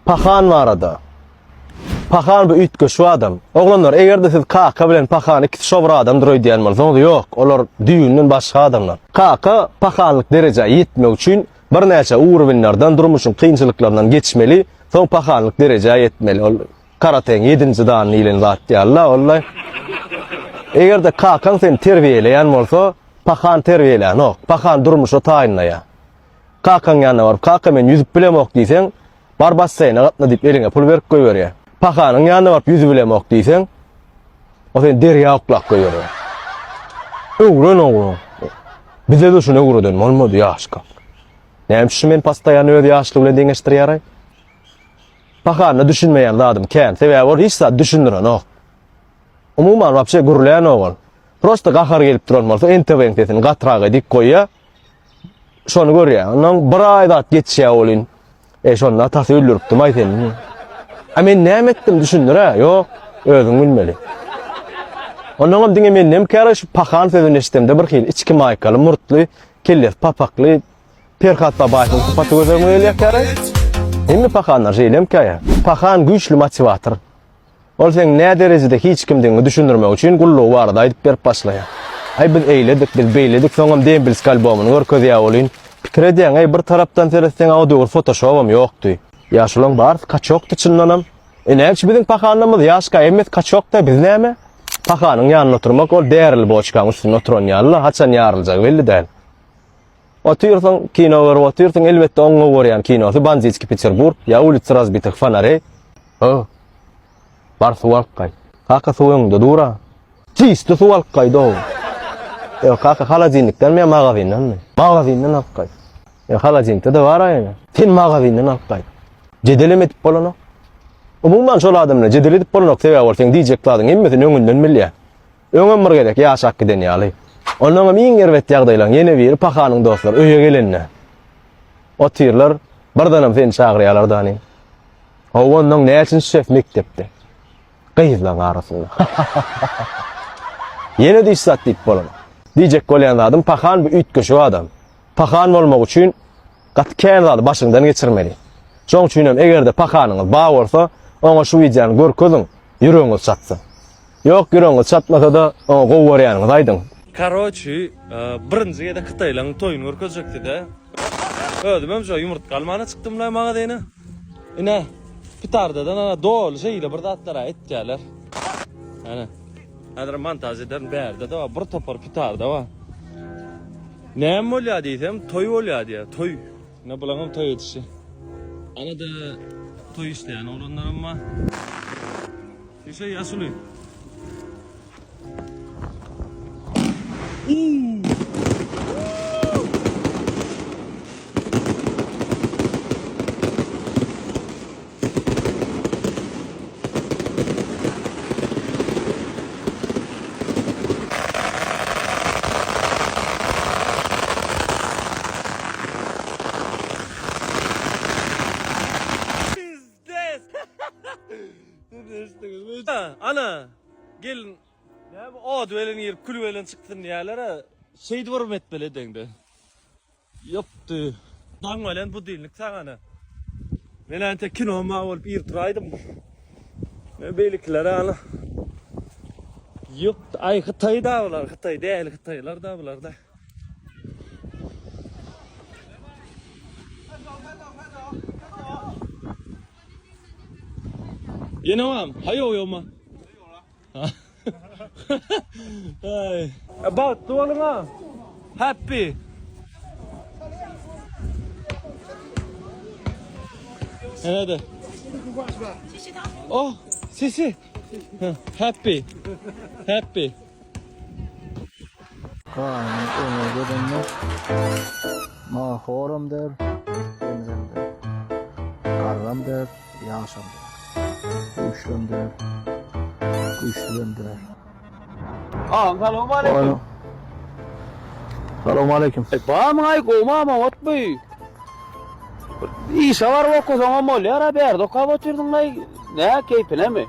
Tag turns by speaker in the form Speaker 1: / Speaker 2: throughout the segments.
Speaker 1: Pahan barada. Pahan bu üýtgeşik adam. Oglanlar, eger-de siz Kaka bilen Pahan ikisi şo bir adamdyr öýdýän bolsaňyz, ýok, olar düýbünden başga adamlar. Kaka pahanlyk derejä ýetmek üçin birnäçe ugrubinlerden, durmuşyň kynçylyklaryndan geçmeli, soň pahanlyk derejä ýetmeli. Ol karateň ýedinji dany diýlen zat ýaly-la ol-da. Eger-de Kakaň seni terbiýeleýän bolsa, Pahan terbiýelänok. Pahan durmuşa taýynlaýar. Kakaň ýanyna baryp, Kaka, men ýüzüp bilemok diýseň, Bar basseýne gatna diýip, eliňe pul berip goýberýär. Pahanyň ýanyna baryp ýüzübilemok diýseň, ol seni derýa oklap goýberýär. Öwren oglan. Bize de şuny öwreden bolmady ýaşkam. Näme üçin men postaýan öz ýaşlygy bilen deňeşdirýäraý? Pahanyna düşünmeýän zadym kän, sebäbi ol hiç zat düşündirenok. Umuman wapşe gürlänok ol. Prosta gahary gelip duran bolsa NTV-niň sesini gatyrak edip goýýar. Şony görýär. Ondan bir aý zat geçýär bolin. E şonda atasy öldüripdi maý seni. A men näme etdim düşündir ha? Ýok, özüň bilmeli. Ondan hem diňe men näme käre şu pahan sözüni eşitemde bir hil içki maýkaly murtly, kelles papakly Perhat Babaýewiň sypaty gözüme gelýär käre. Hemme pahanlar şeýle hem käýär. Pahan güýçli motiwator. Ol seň nä derejede hiç kimdigiňi düşündirmek üçin gullugy barada aýdyp berip başlaýar. Aý biz eýledik, biz beýledik soňam Dembilsk albomyny görkezýä welin, pikir edýäňeý bir tarapdan seretseňä o döwür fotoşobam ýokdy. Ýaşulaň barys kaçokdy çyndanam. E nädüçin biziň pahanamyz ýaşka emmes kaçokda biz näme? Pahanyň ýanynda oturmak ol därili boçkaň üstünde oturan ýalyla haçan ýaryljagy belli däl. Otyrsyň, kino görüp otyrsyň, elbetde oň gowy görýän kinosy Banditski Peterburg ýa Ulica razbitih fonarey. Hoo. Bar suw alyp gaý. Kaka suw öňüňde dur-a. Çyşdy suw alyp gaý do. Ýok kaka holodilnikdenmi ýa magazindenmi? Magazinden alyp gaý. Ýok holodilnikde-de bar-a ýöne. Sen magazinden alyp gaý. Jedelem edip bolanok. Umuman şol adam bilen jedel edip bolanok sebäbi ol seň diýjek zadyň hemmesini öňünden bilýä. Öňem bir gezek ýaşap giden ýaly. Onnoňam iň erbet ýagdaýlaň ýene biri pahanyň dostlary öýe gelende. Otyrlar, birdenem seni çagyrýarlar dani. Hawa onnoň näçinji ses mekdepde? Gyzlaň arasynda. Ýene diş zat diýip bolan. Diýjek bolýan zadym pahan bu üýtgeşik adam. Pahan bolmak üçin Gaty kän zady başyňdan geçirmeli. Şoň üçinem egerde pakanyňyz bar bolsa, oňa şu wideony görkeziň, ýüregiňiz çatsyn. Ýok ýüregiňiz çatmasada oňa gowy görýäniňizi aýdyň. Karoçi
Speaker 2: birinji gezek hytaýlaň toýuny görkezjekdida. Özümem şo ýumurtga almana çykdymlaý magazyna. Ine pitardadan ana doly şeýle bir zatlar aýtýalar. Ana. Häzirem montaž ederin bärde-de bir topar pitarda bar. Näme bolýar diýsem, toý bolýar diýýär. Toý. Ine bulaňam toý edişi. Arada toý isleýän oglanlaram bar. Şişe ýaşuly. Ana, gelin. Näme od bilen girip, kül bilen çykdyn diýýärler-ä. Şeýdip urma etmeli deňde. Ýapdy. Daň welin budilnik sagana. Men ante kino ma bolup ir turaýdym. Men beýlekiler ýaly. Ýok, aý hytaý da bular, hytaý däli hytaýlar da bular da. Ýene bam, haýo ýoma. Bagtly boluň a. Happy. Näde? Oh, sesi. Happy. Happy.
Speaker 3: Gaýynyň öňe gelenine Nahoram der, Hemzem der, Garram der, Ýagşam der, Güýçlem der, Güýçlüjem der. Agam
Speaker 2: salowmaleýkim.
Speaker 3: Salowmaleýkim. Bamyň-aý gowmam-a
Speaker 2: otby? Bir işe baryp okasaňam bolýar-a, bärde okap otyrdyň-laý. Nä, keýpinemi?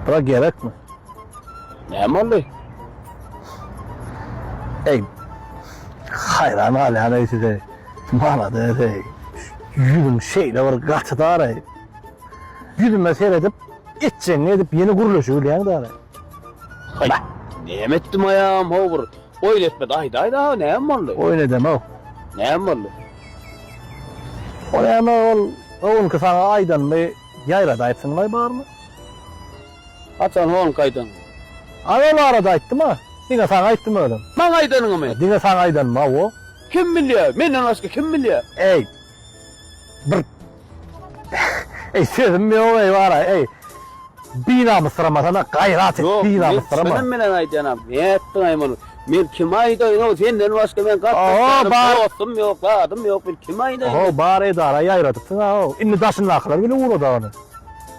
Speaker 3: Bura gerekmi? Näme
Speaker 2: boldy?
Speaker 3: Eý, haýran galýan eý size. Malades eý. Ýüzüň şeýle bir gaçydar eý. Ýüzüme seredip, etjegiňi edip ýene gürleşibilýäň däl eý. Haý,
Speaker 4: näme etdim aýam, ho bir Oýun etmedi aýdaý dagy näme boldy. Oýun edemok.
Speaker 3: Näme boldy. Oýana ol öňki saňa aýdanymy ýaýrada aýtsyňlaý barmy.
Speaker 4: Haçan honk aýdan. Aý ol
Speaker 3: arada aýtdyma. Diňe saňa aýtdym özüm. Maňa aýdanyňymy.
Speaker 4: Diňe saňa aýdanma wo.
Speaker 3: Kim bilýä
Speaker 4: menden başga kim bilýä. Eý.
Speaker 3: Bir Ey sözüm yok ey var ey. Binamysyrama sana gayrat et binamysyrama. Yok men
Speaker 4: bilen
Speaker 3: aydanam. Ne
Speaker 4: ettin ay bunu? Men kim aydaýyn o senden başga ben gatnaşýan dostum ýok,
Speaker 3: zadym
Speaker 4: ýok. Men kim aydaýyn? O bar edara
Speaker 3: ýaýradypsyň ha. Indi daşyndakylar bile ugrada ony.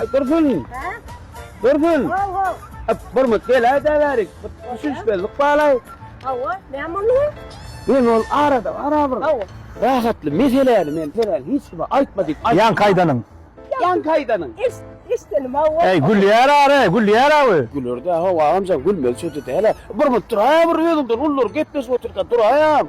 Speaker 4: Ay dursun.
Speaker 5: Dursun.
Speaker 4: Öp
Speaker 5: burmut gel
Speaker 4: ay däbärik. Düşünüş bezlik balay. Hawa, ne
Speaker 5: boldu? Men ol
Speaker 4: arada ara bir. Hawa. Rahatly meseleni men senen hiç kime aytma dip. Yan kaydanyň.
Speaker 3: Yan kaydanyň.
Speaker 4: Eş, eşdenim
Speaker 5: hawa. Ay gülýär ara,
Speaker 3: gülýär awy. Güler de hawa amca
Speaker 4: gülmeli sözi däl. Burmut dur ay bir özüňden ullar gepleşip oturka dur ayam.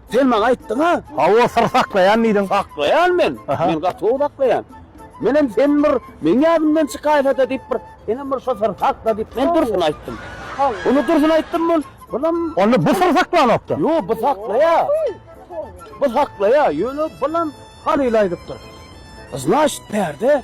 Speaker 4: Sen maňa aýtdyň-a? Hawa, syr saklaýan
Speaker 3: diýdiň. Saklaýan men?
Speaker 4: Men gaty gowy saklaýan. Menem sen bir meň ýadymdan çykaýsa-da diýip bir, senem bir şo syry sakla diýip men dursun aýtdym. Ony dursun
Speaker 5: aýtdym
Speaker 4: bul, bulam. Onda bu syr saklanokdy?
Speaker 3: Ýok, bu saklaýar.
Speaker 4: Bu saklaýar, ýöne bulam Halyl aýdypdyr. Znaşit bärde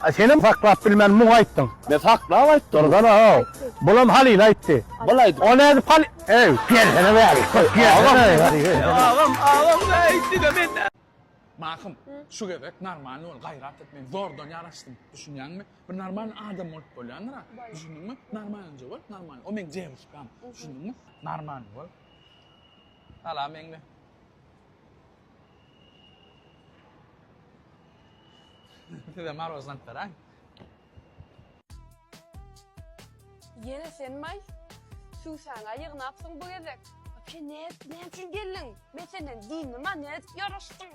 Speaker 3: A
Speaker 4: senem saklap
Speaker 3: bilmän muňa aýtdyň. Men saklap aýtdym.
Speaker 4: Dursana how.
Speaker 3: Bulam Halyla aýtdy. Bul aýdyp. O nädip
Speaker 4: Hal. Eý,
Speaker 3: gelsene bäri. Köp gelsene. Agam, agam
Speaker 4: näýip diňe men. Mahym,
Speaker 6: şu gezek normalny bol, gaýrat et, men zordan ýaraşdym, düşünýäňmi? Bir normalny adam bolup bolýandyr a, düşündiňmi? Normalnje bol, normalny. O meň dewuşkam, düşündiňmi? Normalny bol. Salam eňňe. Size marozland beren.
Speaker 7: Yene sen may. Susaňa ýygnapsyň bu gezek. Sen ne, ne üçin geldiň? Men senden dindim ha, ne edip ýaraşdyň?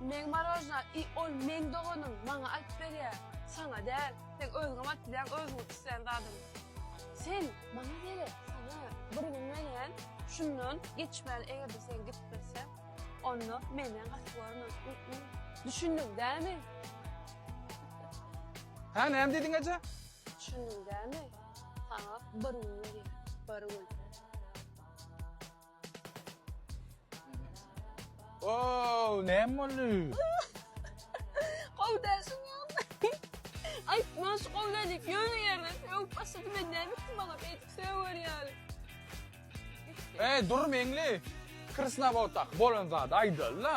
Speaker 7: Meň marojna i ol meň doganym maňa alyp berýä saňa däl seň özüňem alyp bilýäň özüňiň islän zadyňy sen maňa gerek saňa bir gün menem şundan geçmäli egerde sen gitmeseň onda menden gaty görme ü-ü düşündiň dämi.
Speaker 6: Hä näme diýdiň eje? Düşündiň
Speaker 7: dämi saňa bir gün berýän bir gün.
Speaker 6: Ow, näme boldy? Gowy
Speaker 7: dälsiň ýagny. Aýtma, şu gowy däl diýip ýöne ýerden sögüp başlady, men näme etdim oňa, beýdip söwer ýaly. Eý,
Speaker 6: dur meňli. Krasnawodak bolan zady aýdaly-da.